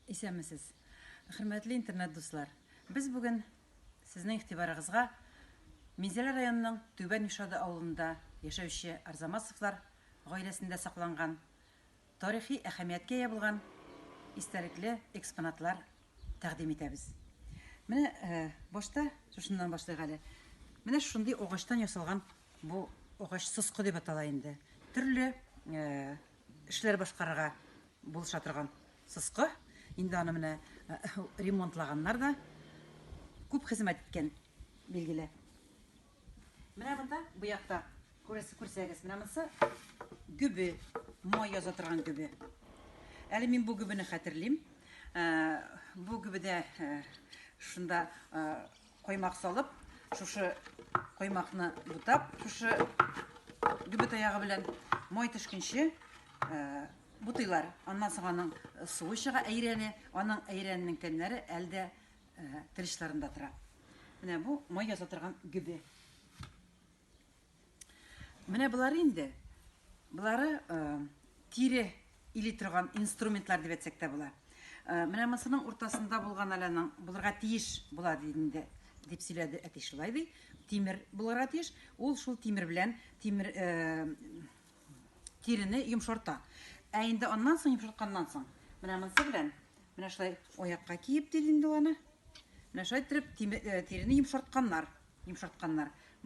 Исәнмесез. Хөрмәтле интернет дуслар. Без бүген сезнең игътибарыгызга Минзәлә районының Түбән Юшады авылында яшәүче Арзамасовлар гаиләсендә сакланган тарихи әһәмияткә ия булган истәлекле экспонатлар тәкъдим итәбез. Менә э, башта шушыннан башлыйк әле. Менә шундый агачтан ясалган бу агач соскы дип атала инде. Төрле э, эшләр башкарырга булыша торган сыскы. Инде аны менә ремонтлаганнар да. Күп хезмәт иткән, билгеле. Менә монда бу якта күрәсе күрсәгез, менә монсы гөбе, май яза торган гөбе. Әле мин бу гөбене хәтерлим. Бу гөбедә шунда Каймак салып, шушы каймакны бутап, шушы гөбе таягы белән май төшкенче э, бутыйлар. Аннан соң аның суы чыга әйрәне, аның әйрәненең тәмнәре әлдә э, тел тора. Менә бу май яза торган гөбе. Менә болар инде. Болары э, тире или торган инструментлар дип әйтсәк тә була. Э, менә монысының уртасында булган әләнең булырга тиеш була инде дип сөйләде әти шулай ди. Тимер булырга тиеш. Ул шул тимер белән тимер э, тирене йомшарта. Ә инде аннан соң йомшартканнан соң менә монысы белән менә шулай аякка киеп диде инде аны. Менә шулай итеп тирене йомшартканнар, йомшартканнар.